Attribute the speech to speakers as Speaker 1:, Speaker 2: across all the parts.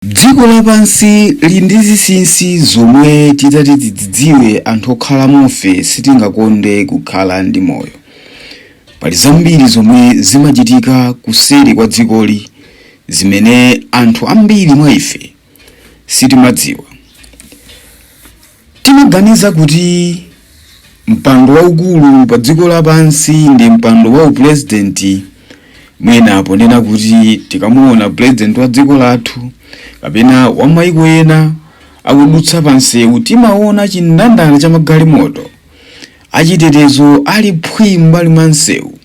Speaker 1: Dziko lapansi lili ndi zinsinsi zomwe titati tidzidziwe anthu okhalamofe sitingakonde kukhala ndi moyo. Pali zambiri zomwe zimachitika kuseri kwa dzikoli zimene anthu ambiri mwa ife sitimadziwa. Timaganiza kuti mpando waukulu pa dziko lapansi ndi mpando wa upresident. Mwina ponena kuti tikamuona president wa dziko lathu kapena wa mayiko ena akudutsa pansewu timaona chindandala cha magalimoto. Achitetezo ali phwii m'mbali mwa nsewu,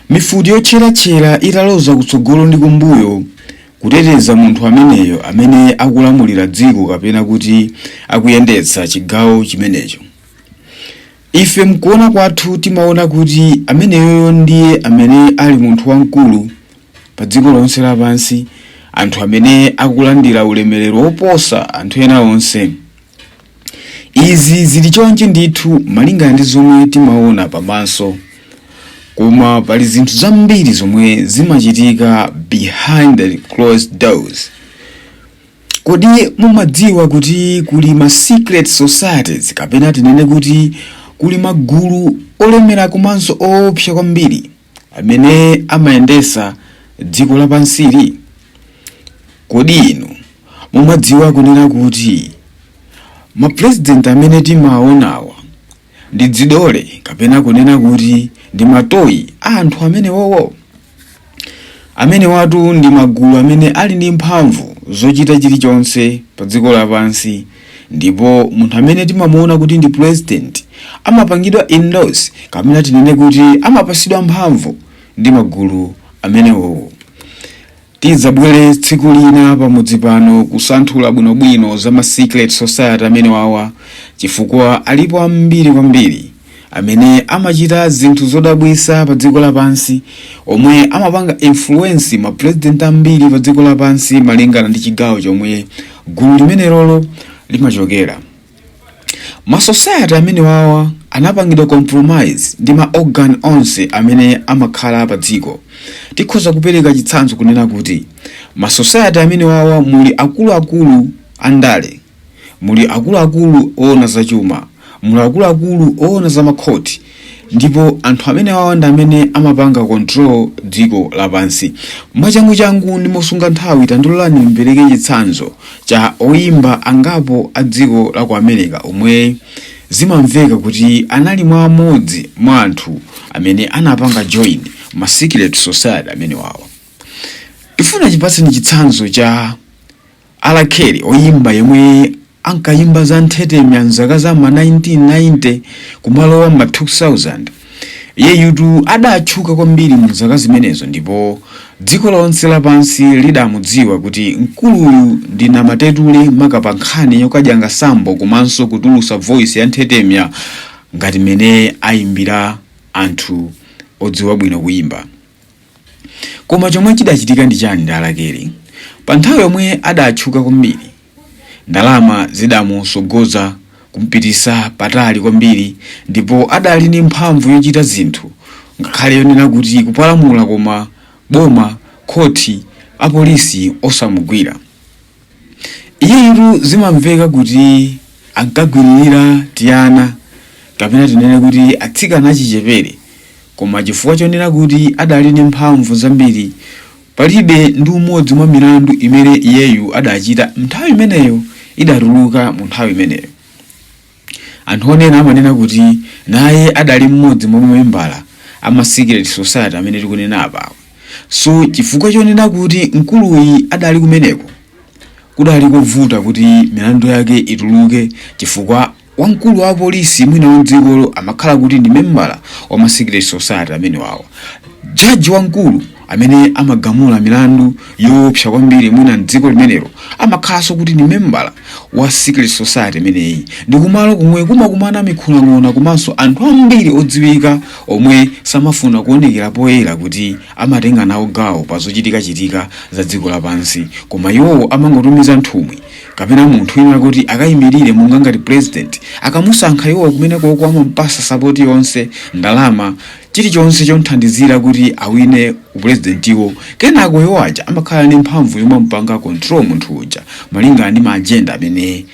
Speaker 1: mifuti yotcheratchera italoza kutsogolo ndi kumbuyo kuteteza munthu ameneyo amene akulamulira dziko kapena kuti akuyendetsa chigawo chimenecho. Ife m'kuona kwathu timaona kuti ameneyoyo ndiye amene ali munthu wamkulu padziko lonse lapansi, anthu amene akulandira ulemerero woposa anthu ena onse. Izi zili chonchi ndithu malingana ndi zomwe timaona pamaso, koma pali zinthu zambiri zomwe zimachitika behind the closed doors. Kodi mumadziwa kuti kuli ma secret societies kapena tinene kuti kuli magulu olemera komanso oopsa kwambiri? amene amayendesa dziko lapansili? Kodi inu mumadziwa kunena kuti ma president amene timawaonawa ndi dzidole kapena kunena kuti ndi matoyi a anthu amenewowo? Amenewatu ndi magulu amene ali ndi mphamvu zochita chilichonse pa dziko lapansi. Ndipo munthu amene timamuona kuti ndi president amapangidwa endorse kapena tinene kuti amapasidwa mphamvu ndi magulu amenewowo. Tidzabwele tsiku lina pamudzi pano kusanthula bwinobwino za ma secret society amenewawa chifukwa alipo ambiri kwambiri. amene amachita zinthu zodabwisa pa dziko lapansi omwe amapanga influence ma president ambiri pa dziko lapansi malingana ndi chigawo chomwe gulu limenelolo limachokera ma society amene wawa anapangidwa compromise ndi ma organ onse amene amakhala pa dziko tikhoza kupereka chitsanzo kunena kuti ma society amene wawa muli akuluakulu andale muli akuluakulu oona za chuma muli akuluakulu oona za makhoti ndipo anthu amenewawa ndi amene amapanga control dziko lapansi mwachanguchangu ndi mosunga nthawi tandilolani mpereke chitsanzo cha oyimba angapo a dziko la ku america omwe zimamveka kuti anali mwa amodzi mwa anthu amene anapanga join ma secret society amenewawa tifuna tikupatseni chitsanzo cha R Kelly, oyimba yemwe ankayimba za nthetemya m'zaka za ma 1990 kumalowa m'ma 2000, iyeyutu adatchuka kwambiri mu zaka zimenezo ndipo dziko lonse lapansi lidamudziwa kuti mkuluyu ndi namatetule maka pa nkhani yoka diang'a sambo komanso kutulusa voice ya nthetemya ngati mmene ayimbira anthu odziwa bwino kuyimba. Koma chomwe chidachitika ndi chani ndi R Kelly? Pa nthawi yomwe adatchuka kwambiri, ndalama zidamutsogoza kumpititsa patali kwambiri ndipo adali ndi mphamvu yochita zinthu ngakhale yonena kuti kupalamula koma boma, khoti, apolisi osamugwira. Iyeyutu zimamveka kuti ankagwiririra tiana kapena tinene kuti atsikana achichepere, koma chifukwa chonena kuti adali ndi mphamvu zambiri, palibe ndi umodzi mwa milandu imene iyeyu adachita m'nthawi imeneyo idatuluka mu nthawi imeneyo. Anthu onena amanena kuti naye adali mmodzi mwa mamembala a ma secret society amene tikunena apawa. So chifukwa chonena kuti mkuluyu adali kumeneko kudali kovuta kuti milandu yake ituluke chifukwa wamkulu wa apolisi mwina wa mdzikolo amakhala kuti ndi membala wa ma secret society amenewawa. Judge wamkulu amene amagamula milandu yoopsa kwambiri mwina mdziko limenelo amakhalanso kuti ndi membala wa secret society imeneyi ndi kumalo komwe kumakumana mikhulang'ona komanso anthu ambiri odziwika omwe samafuna kuonekera poyera kuti amatenga nawo gawo pa zochitikachitika za dziko lapansi koma iwowo amangotumiza nthumwi kapena munthu wina kuti akayimirire monga ngati president akamusankha iwowo kumenekoko amampatsa sapoti yonse ndalama chilichonse chomthandizira kuti awine upulezidentiwo kenako iwo aja amakhala ndi mphamvu yomampanga control munthu uja malingana ndi maajenda amene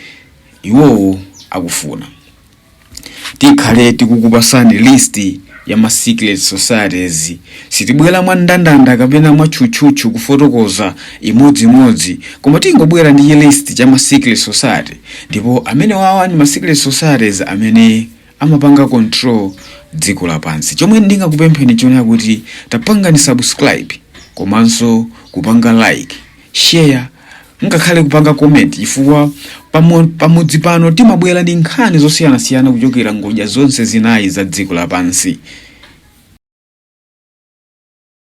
Speaker 1: iwowo akufuna tikhale tikukupatsani list ya ma secret societies sitibwera mwa ndandanda kapena mwa tchutchutchu kufotokoza imodziimodzi koma tingobwera ndi chilist cha ma secret society ndipo amenewawa ndi ma secret societies amene amapanga control dziko lapansi chomwe ndingakupempheni chonena kuti tapangani subscribe komanso kupanga like share ngakhale kupanga comment chifukwa pamudzi pano timabwera ndi nkhani zosiyanasiyana kuchokera ngodya zonse zinayi za dziko lapansi